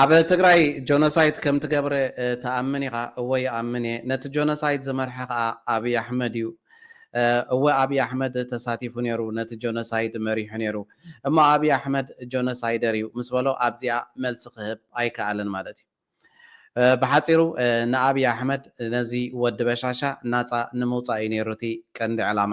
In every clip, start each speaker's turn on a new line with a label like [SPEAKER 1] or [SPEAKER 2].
[SPEAKER 1] ኣብ ትግራይ ጆኖሳይት ከምትገብረ ትኣምን ኢኻ? እወ ይኣምን እየ። ነቲ ጆኖሳይት ዝመርሐ ከኣ ኣብይ ኣሕመድ እዩ። እወ ኣብይ ኣሕመድ ተሳቲፉ ነይሩ ነቲ ጆኖሳይድ መሪሑ ነይሩ። እሞ ኣብይ ኣሕመድ ጆኖሳይደር እዩ ምስ በሎ ኣብዚኣ መልሲ ክህብ ኣይከኣለን ማለት እዩ። ብሓጺሩ ንኣብይ ኣሕመድ ነዚ ወዲ በሻሻ ናጻ ንምውጻእ እዩ ነይሩ እቲ ቀንዲ ዕላማ።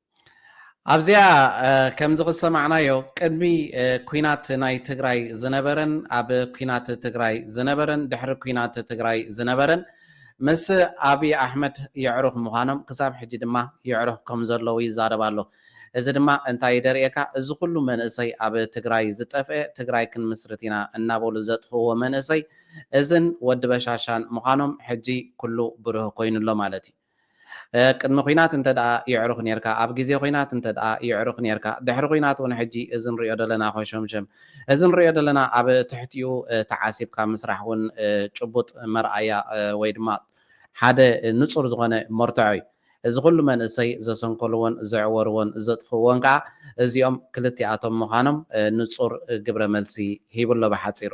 [SPEAKER 1] ኣብዚኣ ከምዚ ክሰማዕናዮ ቅድሚ ኩናት ናይ ትግራይ ዝነበረን ኣብ ኩናት ትግራይ ዝነበረን ድሕሪ ኩናት ትግራይ ዝነበረን ምስ ኣብይ ኣሕመድ የዕሩኽ ምዃኖም ክሳብ ሕጂ ድማ የዕሩኽ ከም ዘለዉ ይዛረብ ኣሎ። እዚ ድማ እንታይ እዩ ደርእየካ እዚ ኩሉ መንእሰይ ኣብ ትግራይ ዝጠፍኤ ትግራይ ክንምስርት ኢና እናበሉ ዘጥፍእዎ መንእሰይ እዝን ወዲ በሻሻን ምዃኖም ሕጂ ኩሉ ብሩህ ኮይኑ ኣሎ ማለት እዩ። ቅድሚ ኩናት እንተድኣ የዕሩኽ ኔርካ ኣብ ግዜ ኩናት እንተድኣ የዕሩኽ ኔርካ ድሕሪ ኩናት ውን ሕጂ እዚ ንሪኦ ደለና ኮሾምሸም እዚ ንሪኦ ደለና ኣብ ትሕቲኡ ተዓሲብካ ምስራሕ ውን ጭቡጥ መርኣያ ወይ ድማ ሓደ ንጹር ዝኾነ መርትዖ ዩ እዚ ኩሉ መንእሰይ ዘሰንከልዎን ዘዕወርዎን ዘጥፍእዎን ከኣ እዚኦም ክልቲኣቶም ምኻኖም ንጹር ግብረ መልሲ ሂቡ ኣሎ ብሓጺሩ።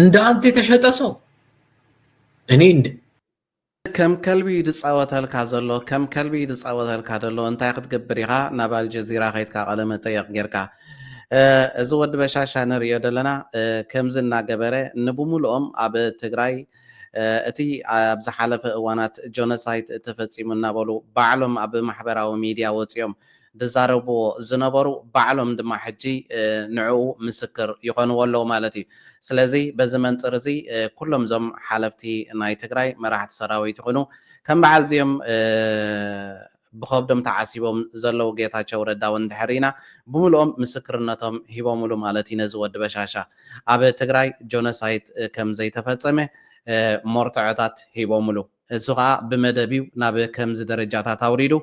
[SPEAKER 2] እንደ አንተ የተሸጠ ሰው እኔ እንደ ከም
[SPEAKER 1] ከልቢ እዩ ዝፃወተልካ ዘሎ ከም ከልቢ እዩ ዝፃወተልካ ዘሎ እንታይ ክትገብር ኢኻ ናብ ኣልጀዚራ ከይትካ ቃለ መጠየቕ ጌርካ እዚ ወዲ በሻሻ ንሪኦ ዘለና ከምዚ እናገበረ ንብምሉኦም ኣብ ትግራይ እቲ ኣብ ዝሓለፈ እዋናት ጆኖሳይት ተፈፂሙ እናበሉ ባዕሎም ኣብ ማሕበራዊ ሚድያ ወፂኦም ዝዛረብዎ ዝነበሩ ባዕሎም ድማ ሕጂ ንዕኡ ምስክር ይኾንዎ ኣለዉ ማለት እዩ። ስለዚ በዚ መንጽር እዚ ኩሎም እዞም ሓለፍቲ ናይ ትግራይ መራሕቲ ሰራዊት ይኹኑ ከም በዓል እዚኦም ብኸብዶም ተዓሲቦም ዘለዉ ጌታቸው ረዳ እውን እንድሕር ሪኢና ብምሉኦም ምስክርነቶም ሂቦምሉ ማለት እዩ ነዚ ወዲ በሻሻ ኣብ ትግራይ ጆኖሳይት ከም ዘይተፈጸመ ሞርተዖታት ሂቦምሉ። እሱ ከኣ ብመደብ'ዩ ናብ ከምዚ ደረጃታት ኣውሪዱ።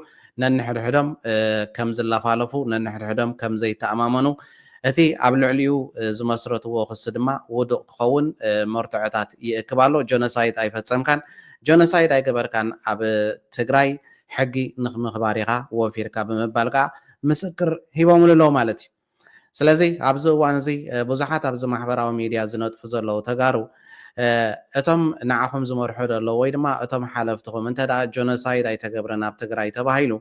[SPEAKER 1] ነንሕድሕዶም ከም ዝላፋለፉ፣ ነንሕድሕዶም ከም ዘይተኣማመኑ፣ እቲ ኣብ ልዕሊኡ ዝመስረትዎ ክሲ ድማ ውዱቕ ክኸውን መርትዖታት ይእክብ ኣሎ። ጆኖሳይድ ኣይፈጸምካን፣ ጆኖሳይድ ኣይገበርካን፣ ኣብ ትግራይ ሕጊ ንክምኽባር ኢኻ ወፊርካ ብምባል ከኣ ምስክር ሂቦምሉ ኣለዉ ማለት'ዩ። ስለዚ ኣብዚ እዋን እዚ ብዙሓት ኣብዚ ማሕበራዊ ሚድያ ዝነጥፉ ዘለዉ ተጋሩ እቶም ንዓኹም ዝመርሑ ዘለዉ ወይ ድማ እቶም ሓለፍትኹም እንተ ጆኖሳይድ ኣይተገብረን ኣብ ትግራይ ተባሂሉ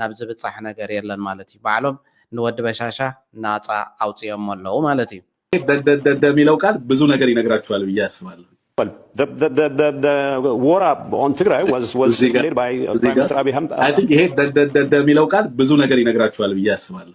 [SPEAKER 1] ናብ ዝብፃሕ ነገር የለን ማለት እዩ። ባዕሎም ንወዲ በሻሻ ናፃ
[SPEAKER 3] ኣውፂኦሞ
[SPEAKER 1] ኣለዉ
[SPEAKER 3] ማለት እዩ። ደደደደ የሚለው ቃል ብዙ
[SPEAKER 1] ነገር
[SPEAKER 3] ይነግራችኋል ብዬ
[SPEAKER 4] አስባለሁ። ይሄ ደደደደ
[SPEAKER 5] የሚለው ቃል ብዙ ነገር ይነግራችኋል ብዬ አስባለሁ።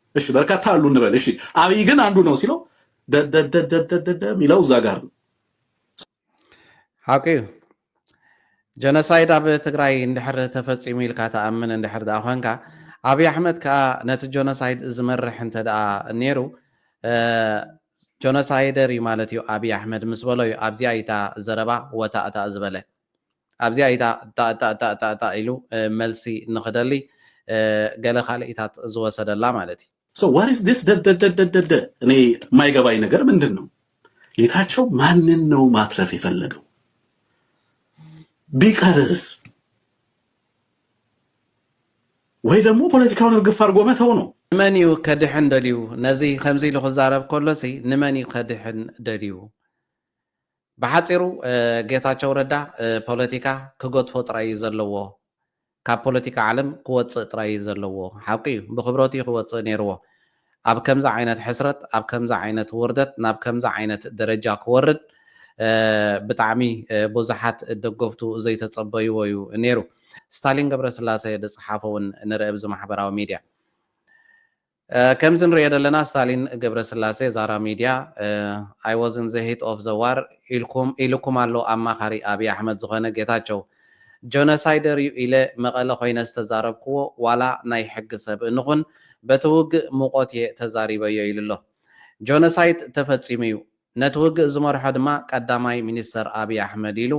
[SPEAKER 5] እሺ በርካታ አሉ እንበል። እሺ አብይ ግን አንዱ ነው ሲለው ደደደደደደ የሚለው እዛ ጋር ነው። ሓቂ
[SPEAKER 1] እዩ ጀኖሳይድ ኣብ ትግራይ እንድሕር ተፈፂሙ ኢልካ ተኣምን እንድሕር ደኣ ኮንካ ኣብዪ ኣሕመድ ከዓ ነቲ ጀኖሳይድ ዝመርሕ እንተ ደኣ ነይሩ ጀኖሳይደር እዩ ማለት እዩ ኣብዪ ኣሕመድ ምስ በሎ እዩ ኣብዚኣ እታ ዘረባ ወታእታእ ዝበለ ኣብዚኣ ኢታ እታእታእታእታእታእ ኢሉ መልሲ ንክደሊ ገለ ካልኢታት ዝወሰደላ ማለት እዩ። So what is this
[SPEAKER 5] ደደደደደደ እኔ የማይገባኝ ነገር ምንድን ነው ጌታቸው ማንን ነው ማትረፍ የፈለገው ቢቀርስ ወይ ደግሞ ፖለቲካውን እርግፍ አድርጎ መተው ነው። ንመን እዩ ከድሕን
[SPEAKER 1] ደልዩ? ነዚ ከምዚ ኢሉ ክዛረብ ከሎሲ ንመን እዩ ከድሕን ደልዩ? ብሓፂሩ ጌታቸው ረዳ ፖለቲካ ክገድፎ ጥራይ እዩ ዘለዎ ካብ ፖለቲካ ዓለም ክወፅእ ጥራይ እዩ ዘለዎ ሓቁ እዩ ብክብረቱ እዩ ክወፅእ ነይርዎ ኣብ ከምዚ ዓይነት ሕስረት ኣብ ከምዚ ዓይነት ውርደት ናብ ከምዚ ዓይነት ደረጃ ክወርድ ብጣዕሚ ቡዙሓት ደገፍቱ ዘይተፀበይዎ እዩ ነይሩ ስታሊን ገብረስላሰ ዝፀሓፎ እውን ንርኢ ኣብዚ ማሕበራዊ ሚድያ። ከምዚ እንርእዮ ዘለና ስታሊን ገብረስላሴ ዛራ ሚድያ I was in the heat of the war ኢልኩም ኢሉኩም ኣሎ ኣማኻሪ ኣብይ ኣሕመድ ዝኾነ ጌታቸው ጆነሳይደር እዩ ኢለ መቐለ ኮይነ ዝተዛረብክዎ ዋላ ናይ ሕጊ ሰብ እንኹን በቲ ውግእ ሙቆት እየ ተዛሪበዮ ኢሉሎ ጆነሳይት ተፈፂሙ እዩ ነቲ ውግእ ዝመርሖ ድማ ቀዳማይ ሚኒስተር ኣብይ ኣሕመድ ኢሉ።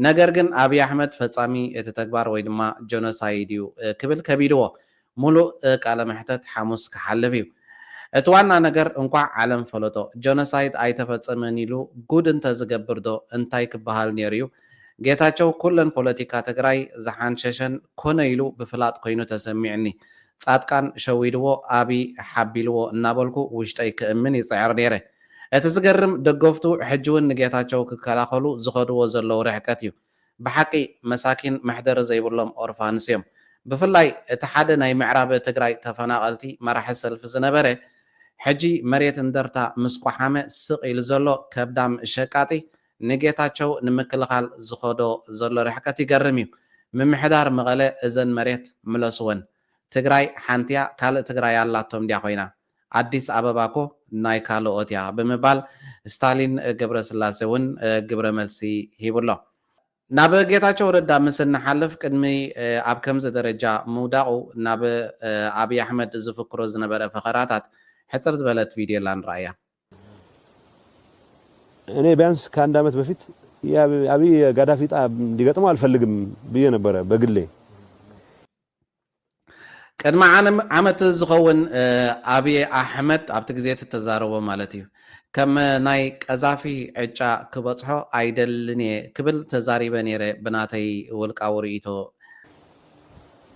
[SPEAKER 1] ነገር ግን ኣብይ ኣሕመድ ፈጻሚ እቲ ተግባር ወይ ድማ ጀኖሳይድ እዩ ክብል ከቢድዎ። ሙሉእ ቃለ መሕተት ሓሙስ ክሓልፍ እዩ። እቲ ዋና ነገር እንኳዕ ዓለም ፈለጦ። ጀኖሳይድ ኣይተፈጸመን ኢሉ ጉድ እንተዝገብር ዶ እንታይ ክበሃል ኔሩ እዩ። ጌታቸው ኩለን ፖለቲካ ትግራይ ዝሓንሸሸን ኮነ ኢሉ ብፍላጥ ኮይኑ ተሰሚዑኒ። ጻድቃን ሸዊድዎ ኣብይ ሓቢልዎ እናበልኩ ውሽጠይ ክእምን ይጽዕር ኔረ። እቲ ዝገርም ደገፍቱ ሕጂ ውን ንጌታቸው ክከላኸሉ ዝኸድዎ ዘለው ርሕቀት እዩ። ብሓቂ መሳኪን መሕደሪ ዘይብሎም ኦርፋንስ እዮም። ብፍላይ እቲ ሓደ ናይ ምዕራብ ትግራይ ተፈናቐልቲ መራሒ ሰልፊ ዝነበረ ሕጂ መሬት እንደርታ ምስ ቆሓመ ስቕ ኢሉ ዘሎ ከብዳም ሸቃጢ ንጌታቸው ንምክልኻል ዝኸዶ ዘሎ ርሕቀት ይገርም እዩ። ምምሕዳር መቐለ እዘን መሬት ምለስወን። ትግራይ ሓንቲያ ካልእ ትግራይ ኣላቶም ድያ ኮይና? ኣዲስ ኣበባ እኮ ናይ ካልኦት እያ ብምባል ስታሊን ገብረስላሴ እውን ግብረ መልሲ ሂቡ ኣሎ። ናብ ጌታቸው ረዳ ምስ እንሓልፍ ቅድሚ ኣብ ከምዚ ደረጃ ምውዳቑ ናብ ኣብይ ኣሕመድ ዝፍክሮ ዝነበረ ፈኸራታት ሕፅር ዝበለት ቪድዮላ ንርኣያ።
[SPEAKER 4] እኔ ቢያንስ ከአንድ አመት በፊት የአብይ ጋዳፊ ዕጣ እንዲገጥመው አልፈልግም ብዬ ነበረ በግሌ።
[SPEAKER 1] ቅድሚ ዓመት ዝኸውን ኣብይ ኣሕመድ ኣብቲ ግዜ እቲ ተዛረቦ ማለት እዩ ከም ናይ ቀዛፊ ዕጫ ክበጽሖ ኣይደልን እየ ክብል ተዛሪበ ነይረ ብናተይ ውልቃዊ ርእይቶ።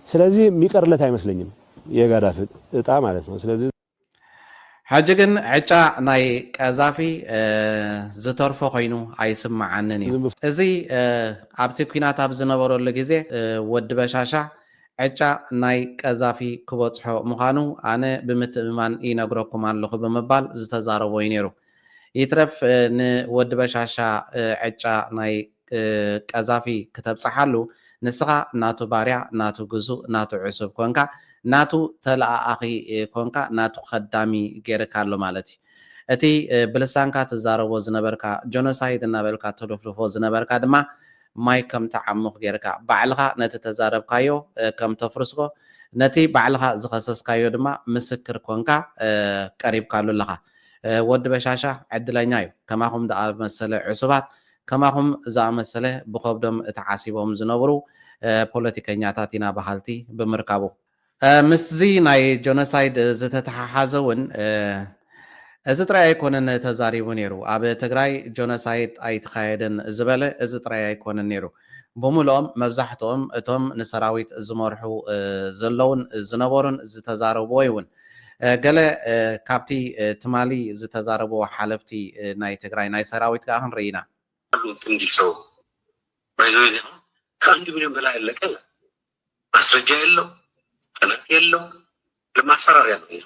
[SPEAKER 1] ስለዚ
[SPEAKER 4] ሚቀርለት ኣይመስለኝን የጋዳፊ እጣ ማለት ነው ስለዚ። ሕጂ
[SPEAKER 1] ግን ዕጫ ናይ ቀዛፊ ዝተርፎ ኮይኑ ኣይስመዓንን እዩ። እዚ ኣብቲ ኲናት ኣብ ዝነበረሉ ግዜ ወዲ በሻሻ ዕጫ ናይ ቀዛፊ ክበጽሖ ምዃኑ ኣነ ብምትእምማን ይነግረኩም ኣለኹ ብምባል ዝተዛረቦ እዩ ነይሩ። ይትረፍ ንወዲ በሻሻ ዕጫ ናይ ቀዛፊ ክተብጽሓሉ ንስኻ ናቱ ባርያ ናቱ ግዙእ ናቱ ዕሱብ ኮንካ ናቱ ተለኣኣኺ ኮንካ ናቱ ከዳሚ ጌርካ ኣሎ ማለት እዩ እቲ ብልሳንካ ትዛረቦ ዝነበርካ ጆኖሳይድ እናበልካ ተሉፍልፎ ዝነበርካ ድማ ማይ ከም ትዓሙኽ ጌርካ ባዕልኻ ነቲ ተዛረብካዮ ከም ተፍርስኮ ነቲ ባዕልኻ ዝኸሰስካዮ ድማ ምስክር ኮንካ ቀሪብካሉ ኣለኻ ወዲ በሻሻ ዕድለኛ እዩ ከማኹም ዝኣመሰለ ዕሱባት ከማኹም ዝኣመሰለ ብኸብዶም ተዓሲቦም ዝነብሩ ፖለቲከኛታት ኢና በሃልቲ ብምርካቡ። ምስዚ ናይ ጆኖሳይድ ዝተተሓሓዘ ውን እዚ ጥራይ ኣይኮነን ተዛሪቡ ኔሩ ኣብ ትግራይ ጆኖሳይድ ኣይተኻየደን ዝበለ እዚ ጥራይ ኣይኮነን ኔሩ ብምሉኦም መብዛሕትኦም እቶም ንሰራዊት ዝመርሑ ዘለዉን ዝነበሩን ዝተዛረብዎይውን ገለ ካብቲ ትማሊ ዝተዛረብዎ ሓለፍቲ ናይ ትግራይ ናይ ሰራዊት ከኣ ክንርኢ ኢና። ኣሉ ትንዲ
[SPEAKER 6] ሰው ባይ ዘ ወይ እዚ ከኣ ካብ ኣንድ ሚልዮን በላይ ኣለቀ ይላል ማስረጃ የለው ጥናት የለው ለማስፈራርያ ነው ይህ።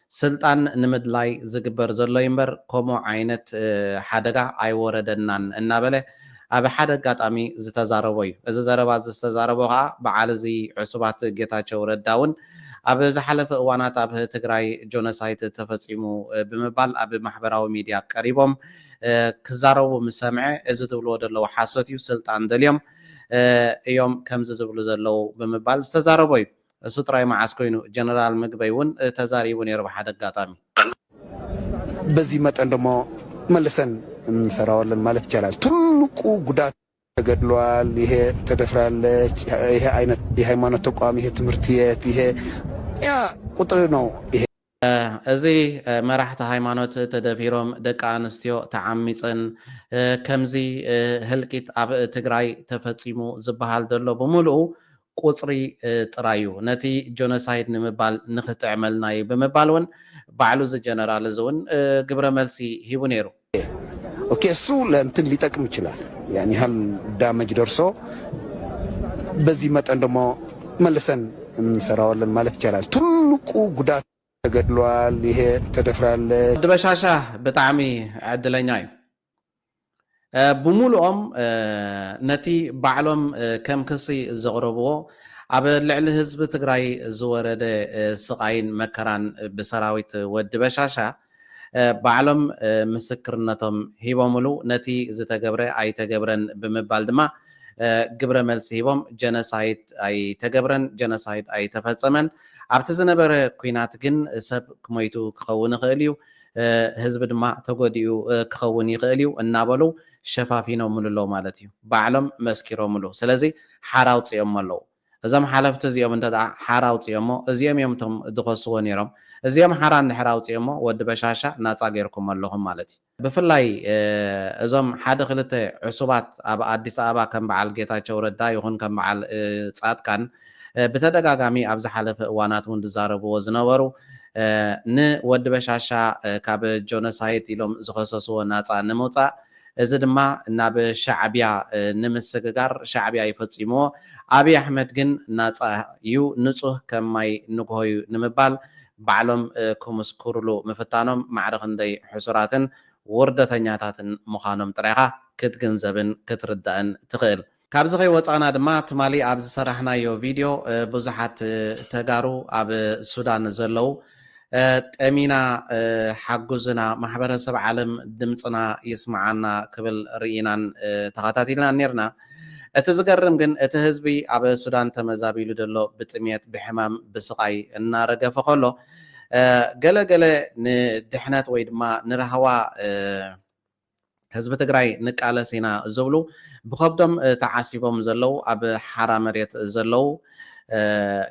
[SPEAKER 1] ስልጣን ንምድላይ ዝግበር ዘሎ'ዩ እምበር ከምኡ ዓይነት ሓደጋ ኣይወረደናን እናበለ ኣብ ሓደ ኣጋጣሚ ዝተዛረቦ'ዩ። እዚ ዘረባ'ዚ ዝተዛረቦ ከኣ በዓል እዚ ዕሱባት ጌታቸው ረዳ'ውን ኣብ ዝሓለፈ እዋናት ኣብ ትግራይ ጆኖሳይት ተፈጺሙ ብምባል ኣብ ማሕበራዊ ሚድያ ቀሪቦም ክዛረቡ ምስ ሰምዐ እዚ ዝብልዎ ዘለዉ ሓሶት'ዩ ስልጣን ደልዮም እዮም ከምዚ ዝብሉ ዘለዉ ብምባል ዝተዛረቦ'ዩ። እሱ ጥራይ መዓስ ኮይኑ ጀነራል ምግበይ ውን ተዛሪቡ ነይሩ ብሓደ ኣጋጣሚ።
[SPEAKER 7] በዚ መጠን ደሞ መልሰን እንሰራዋለን ማለት ይቻላል። ትልቁ ጉዳት ተገድሏል፣ ይሄ ተደፍራለች፣ ይሄ ዓይነት የሃይማኖት ተቋም፣ ይሄ ትምህርት የት፣ ይሄ ያ ቁጥር ነው። እዚ
[SPEAKER 1] መራሕቲ ሃይማኖት ተደፊሮም ደቂ ኣንስትዮ ተዓሚፀን ከምዚ ህልቂት ኣብ ትግራይ ተፈፂሙ ዝባሃል ዘሎ ብሙሉኡ ቁፅሪ ጥራይ እዩ ነቲ ጆኖሳይድ ንምባል ንክጥዕመልና እዩ ብምባል እውን ባዕሉ እዚ ጀነራል እዚ እውን ግብረ መልሲ ሂቡ ነይሩ። ኦኬ
[SPEAKER 7] እሱ ለእንትን ሊጠቅም ይችላል ያን ያህል ዳመጅ ደርሶ በዚህ መጠን ደግሞ መልሰን እንሰራዋለን ማለት ይቻላል። ትልቁ ጉዳት ተገድሏል፣ ይሄ ተደፍራለ። ወዲ በሻሻ
[SPEAKER 1] ብጣዕሚ ዕድለኛ እዩ። ብሙሉኦም ነቲ ባዕሎም ከም ክሲ ዘቕረብዎ ኣብ ልዕሊ ህዝቢ ትግራይ ዝወረደ ስቓይን መከራን ብሰራዊት ወዲ በሻሻ ባዕሎም ምስክርነቶም ሂቦምሉ፣ ነቲ ዝተገብረ ኣይተገብረን ብምባል ድማ ግብረ መልሲ ሂቦም፣ ጀነሳይድ ኣይተገብረን፣ ጀነሳይድ ኣይተፈጸመን፣ ኣብቲ ዝነበረ ኩናት ግን ሰብ ሞይቱ ክኸውን ይኽእል እዩ፣ ህዝቢ ድማ ተጎዲኡ ክኸውን ይኽእል እዩ እናበሉ ሸፋፊኖምሉ ኣለዉ ማለት እዩ፣ ባዕሎም መስኪሮምሉ፣ ስለዚ ሓራ ኣውጺኦሞ ኣለዉ። እዞም ሓለፍቲ እዚኦም እንተ ሓራ ኣውጺኦሞ እዚኦም እዮም እቶም ድኸስዎ ኔሮም እዚኦም ሓራ እንድሕር ኣውጺኦሞ ወዲ በሻሻ ናጻ ጌርኩሞ ኣለኹም ማለት እዩ ብፍላይ እዞም ሓደ ክልተ ዕሱባት ኣብ ኣዲስ ኣበባ ከም በዓል ጌታቸው ረዳ ይኹን ከም በዓል ጻድቃን ብተደጋጋሚ ኣብ ዝሓለፈ እዋናት ውን ድዛረብዎ ዝነበሩ ን ወዲ በሻሻ ካብ ጆነሳይት ኢሎም ዝኸሰስዎ ናጻ ንምውጻእ እዚ ድማ ናብ ሻዕብያ ንምስግጋር ሻዕብያ ዩ ፈፂምዎ ኣብይ ኣሕመድ ግን ናፃ ዩ ንፁህ ከም ማይ ንጉሆ ዩ ንምባል ባዕሎም ክምስክሩሉ ምፍታኖም ማዕረ ክንደይ ሕሱራትን ውርደተኛታትን ምዃኖም ጥራይ ኢኻ ክትግንዘብን ክትርዳእን ትኽእል። ካብዚ ከይወፃእና ድማ ትማሊ ኣብ ዝሰራሕናዮ ቪድዮ ብዙሓት ተጋሩ ኣብ ሱዳን ዘለው ጠሚና ሓጉዝና ማሕበረሰብ ዓለም ድምፅና ይስማዓና ክብል ሪኢናን ተኻታቲልናን ኔርና እቲ ዝገርም ግን እቲ ህዝቢ ኣብ ሱዳን ተመዛቢሉ ደሎ ብጥምየት ብሕማም ብስቓይ እናረገፈ ከሎ ገለ ገለ ንድሕነት ወይ ድማ ንራህዋ ህዝቢ ትግራይ ንቃለስ ኢና ዝብሉ ብኸብዶም ተዓሲቦም ዘለው ኣብ ሓራ መሬት ዘለው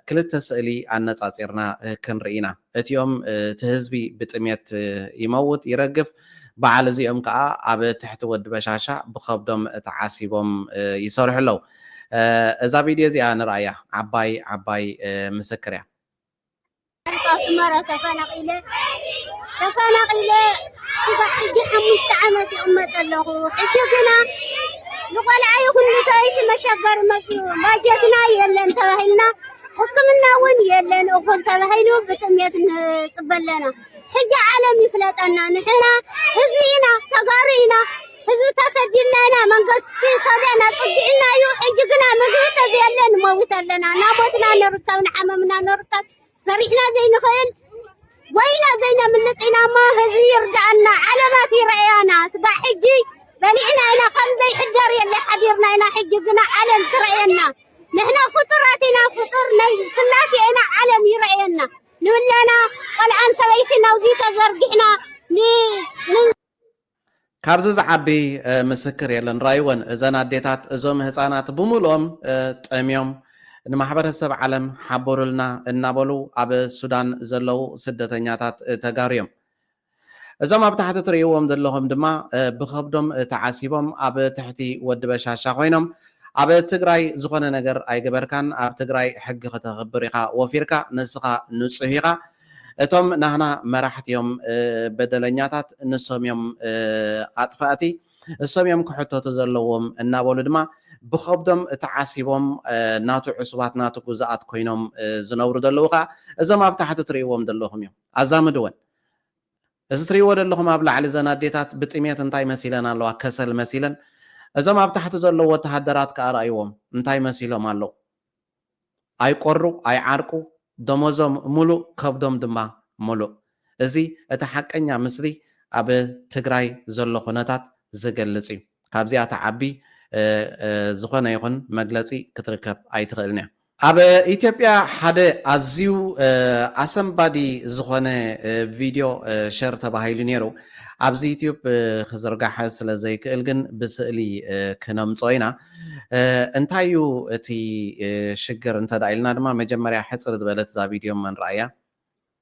[SPEAKER 1] ክልተ ስእሊ ኣነፃፂርና ክንርኢ ኢና። እቲኦም እቲ ህዝቢ ብጥሜት ይመውት፣ ይረግፍ፣ በዓል እዚኦም ከዓ ኣብ ትሕቲ ወዲ በሻሻ ብኸብዶም ተዓሲቦም ይሰርሑ ኣለው። እዛ ቪድዮ እዚኣ ንርኣያ ዓባይ ዓባይ ምስክር እያ።
[SPEAKER 3] ኣስመራ ተፈናቒለ ተፈናቒለ ስጋዕ ሕጂ ሓሙሽተ ዓመት ይቕመጥ ኣለኹ ሕጂ ግና ንቆልዓ ይኹን ንሰበይቲ መሸገሪ መፅኡ ባጀትና የለን ተባሂልና ሕክምና እውን የለን እኹል ተባሂሉ ብጥሜት ንፅበ ኣለና ሕጂ ዓለም ይፍለጠና ንሕና ህዝቢ ኢና ተጋሩ ኢና ህዝቢ ተሰዲድና ኢና መንግስቲ ሰብና ጽጊዕና እዩ ሕጂ ግና ምግቢ ተዘየለ ንመውት ኣለና እናሞትና ንርከብ ንሓመምና ንርከብ ሰሪሕና ዘይንኽእል ወይና ዘይነምልጥ ኢና እሞ ህዝቢ ይርዳእና ዓለማት ይረኣያና ስጋ ሕጂ በሊዕና ኢና ከም ዘይሕደር የለ ሓዲርና ኢና ሕጂ ግና ዓለም ትረኣየና ንሕና ፍጡራት ኢና ፍጡር ናይ ስላሴ ኢና ዓለም ይረኣየና ንብላና ቆልዓን ሰበይቲን ናብዚ ተዘርጊሕና
[SPEAKER 1] ካብዚ ዝዓቢ ምስክር የለን ራይወን እዘን ኣዴታት እዞም ህፃናት ብሙሉኦም ጠምዮም ንማሕበረሰብ ዓለም ሓቡሩልና እናበሉ ኣብ ሱዳን ዘለው ስደተኛታት ተጋሩ እዮም እዞም ኣብ ታሕቲ ትርእይዎም ዘለኹም ድማ ብኸብዶም ተዓሲቦም ኣብ ትሕቲ ወዲ በሻሻ ኮይኖም ኣብ ትግራይ ዝኾነ ነገር ኣይገበርካን ኣብ ትግራይ ሕጊ ክተኽብር ኢኻ ወፊርካ ንስኻ ንፁህ ኢኻ እቶም ናህና መራሕቲ እዮም በደለኛታት ንሶም እዮም ኣጥፋእቲ እሶም እዮም ክሕተቱ ዘለዎም እናበሉ ድማ ብኸብዶም ተዓሲቦም ናቱ ዕሱባት ናቱ ጉዛኣት ኮይኖም ዝነብሩ ዘለዉ ከዓ እዞም ኣብ ታሕቲ ትርእይዎም ዘለኹም እዮም ኣዛምድወን እዚ ትሪእዎ ደለኹም ኣብ ላዕሊ እዘን ኣዴታት ብጥሜት እንታይ መሲለን ኣለዋ ከሰል መሲለን እዞም ኣብ ታሕቲ ዘለዉ ወተሃደራት ከኣ ርኣይዎም እንታይ መሲሎም ኣለዉ ኣይቆሩ ኣይዓርቁ ደሞዞም ሙሉእ ከብዶም ድማ ሙሉእ እዚ እቲ ሓቀኛ ምስሊ ኣብ ትግራይ ዘሎ ኩነታት ዝገልፅ እዩ ካብዚኣ ትዓቢ ዝኾነ ይኹን መግለፂ ክትርከብ ኣይትኽእልን እያ። ኣብ ኢትዮጵያ ሓደ ኣዝዩ ኣሰንባዲ ዝኾነ ቪድዮ ሸር ተባሂሉ ነይሩ። ኣብዚ ዩትዩብ ክዝርጋሕ ስለ ዘይክእል ግን ብስእሊ ክነምጽኦ ኢና። እንታይ እዩ እቲ ሽግር እንተ ኢልና ድማ መጀመርያ ሕጽር ዝበለት እዛ ቪድዮ መን ረኣያ?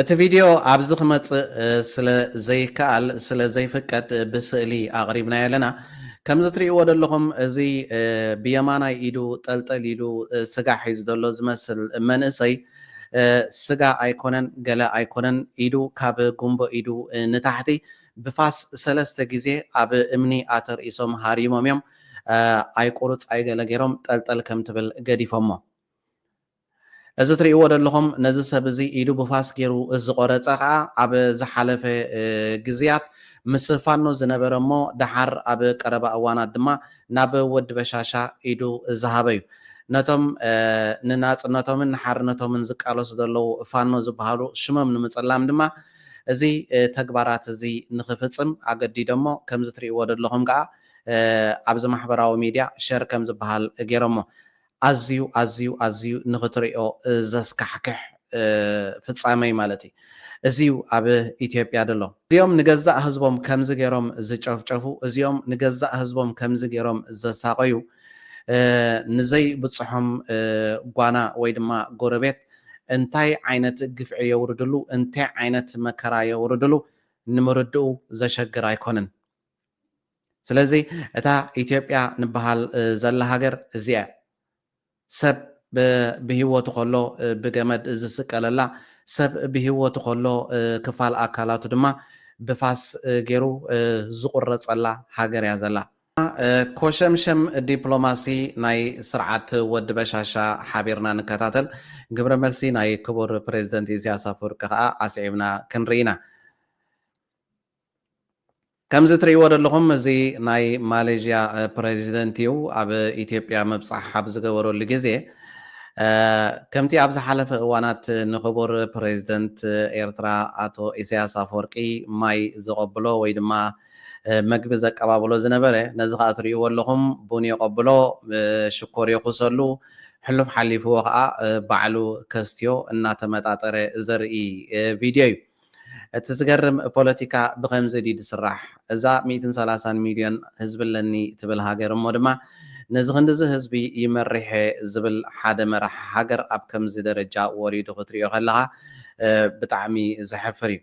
[SPEAKER 8] እቲ
[SPEAKER 1] ቪድዮ ኣብዚ ክመጽእ ስለ ዘይከኣል ስለ ዘይፍቀድ ብስእሊ ኣቕሪብናዮ ኣለና። ከምዚ ትርእይዎ ደለኹም እዚ ብየማናይ ኢዱ ጠልጠል ኢሉ ስጋ ሒዙ ዘሎ ዝመስል መንእሰይ ስጋ ኣይኮነን ገለ ኣይኮነን ኢዱ ካብ ጉምቦ ኢዱ ንታሕቲ ብፋስ ሰለስተ ግዜ ኣብ እምኒ ኣተርኢሶም ሃሪሞም እዮም ኣይቁሩጽ ኣይገለ ጌሮም ጠልጠል ከም ትብል ገዲፎሞ። እዚ ትሪእዎ ደለኹም ነዚ ሰብ እዚ ኢዱ ብፋስ ጌሩ ዝቖረጸ ከኣ ኣብ ዝሓለፈ ግዝያት ምስ ፋኖ ዝነበረ እሞ ደሓር ኣብ ቀረባ እዋናት ድማ ናብ ወዲ በሻሻ ኢዱ ዝሃበ እዩ። ነቶም ንናጽነቶምን ንሓርነቶምን ዝቃለሱ ዘለዉ ፋኖ ዝበሃሉ ሽሞም ንምጽላም ድማ እዚ ተግባራት እዚ ንኽፍጽም ኣገዲዶሞ ከምዚ ትሪእዎ ደለኹም ከኣ ኣብዚ ማሕበራዊ ሚድያ ሸር ከም ዝበሃል ጌሮሞ ኣዝዩ ኣዝዩ ኣዝዩ ንኽትሪኦ ዘስካሕክሕ ፍጻመ'ዩ ማለት እዩ። እዚ'ዩ ኣብ ኢትዮጵያ ዘሎ። እዚኦም ንገዛእ ህዝቦም ከምዚ ገይሮም ዝጨፍጨፉ፣ እዚኦም ንገዛእ ህዝቦም ከምዚ ገይሮም ዘሳቐዩ፣ ንዘይብጽሖም ጓና ወይ ድማ ጎረቤት እንታይ ዓይነት ግፍዒ የውርድሉ፣ እንታይ ዓይነት መከራ የውርድሉ ንምርድኡ ዘሸግር ኣይኮንን። ስለዚ እታ ኢትዮጵያ ንበሃል ዘላ ሃገር እዚኣ እያ። ሰብ ብሂወቱ ከሎ ብገመድ ዝስቀለላ፣ ሰብ ብሂወቱ ከሎ ክፋል ኣካላቱ ድማ ብፋስ ጌሩ ዝቑረጸላ ሃገር እያ ዘላ። ኮሸምሸም ዲፕሎማሲ ናይ ስርዓት ወዲ በሻሻ ሓቢርና ንከታተል፣ ግብረ መልሲ ናይ ክቡር ፕረዚደንት ኢሳያስ ኣፈወርቂ ከኣ ኣስዒብና ክንርኢ ኢና። ከምዚ ትርእይዎ ዘለኹም እዚ ናይ ማሌዥያ ፕረዚደንት እዩ። ኣብ ኢትዮጵያ ምብጻሕ ኣብ ዝገበረሉ ግዜ ከምቲ ኣብ ዝሓለፈ እዋናት ንክቡር ፕረዚደንት ኤርትራ ኣቶ ኢሳያስ ኣፈወርቂ ማይ ዘቐብሎ ወይ ድማ መግቢ ዘቀባብሎ ዝነበረ ነዚ ከኣ ትርእይዎ ኣለኹም ቡን የቐብሎ፣ ሽኮር የኹሰሉ፣ ሕሉፍ ሓሊፍዎ ከኣ ባዕሉ ከስትዮ እናተመጣጠረ ዘርኢ ቪድዮ እዩ። እቲ ዝገርም ፖለቲካ ብኸምዚ ድዩ ዝስራሕ? እዛ ሚእትን ሰላሳን ሚልዮን ህዝቢ ኣለኒ ትብል ሃገር እሞ ድማ ነዚ ክንድዚ ህዝቢ ይመርሕ'የ ዝብል ሓደ መራሒ ሃገር ኣብ ከምዚ ደረጃ ወሪዱ ክትሪኦ ከለኻ ብጣዕሚ ዘሕፍር እዩ።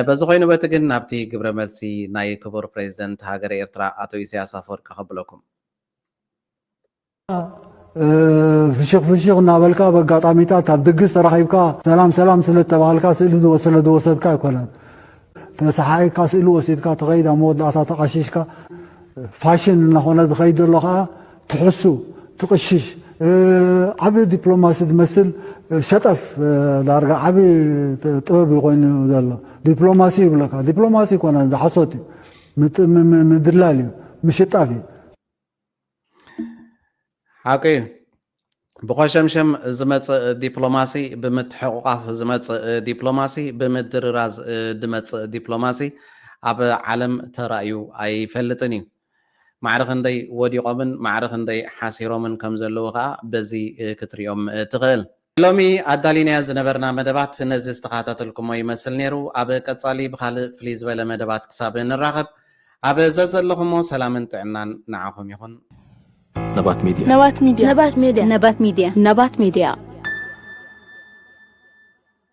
[SPEAKER 1] በዚ ኮይኑ በቲ ግን ናብቲ ግብረ መልሲ ናይ ክቡር ፕረዚደንት ሃገረ ኤርትራ ኣቶ ኢሳያስ ኣፈወርቂ ከብለኩም።
[SPEAKER 9] ፍሽኽ ፍሽኽ እናበልካ በጋጣሚታት ኣብ ድግስ ተራኺብካ ሰላም ሰላም ስለ እተባሃልካ ስእሊ ስለ ዝወሰድካ ኣይኮነን። ተሰሓኢካ ስእሊ ወሲድካ ትኸይድ ኣብ መወዳእታ ተቓሺሽካ ፋሽን እናኾነ ዝኸይድ ዘሎ ከዓ ትሕሱ ትቕሽሽ ዓብ ዲፕሎማሲ ዝመስል ሸጠፍ ዳርጋ ዓብ ጥበብ እዩ ኮይኑ ዘሎ ዲፕሎማሲ ይብለካ ዲፕሎማሲ ይኮነ ዝሓሶት እዩ ምድላል እዩ ምሽጣፍ እዩ ሓቂ እዩ
[SPEAKER 1] ብኮሸምሸም ዝመፅእ ዲፕሎማሲ ብምትሕቑቓፍ ዝመፅእ ዲፕሎማሲ ብምድርራዝ ዝመፅእ ዲፕሎማሲ ኣብ ዓለም ተራእዩ ኣይፈልጥን እዩ ማዕረ ክንደይ ወዲቖምን ማዕረ ክንደይ ሓሲሮምን ከም ዘለዉ ከዓ በዚ ክትሪኦም ትኽእል ሎሚ ኣዳሊናዮ ዝነበርና መደባት ነዚ ዝተኻታተልኩሞ ይመስል ነይሩ። ኣብ ቀጻሊ ብኻልእ ፍልይ ዝበለ መደባት ክሳብ ንራኸብ ኣብ ዘዘለኹሞ ሰላምን ጥዕናን ንዓኹም ይኹን። ነባት
[SPEAKER 10] ሜድያ። ነባት ሚድያ። ነባት
[SPEAKER 1] ሜድያ። ነባት ሜድያ።
[SPEAKER 10] ነባት ሜድያ።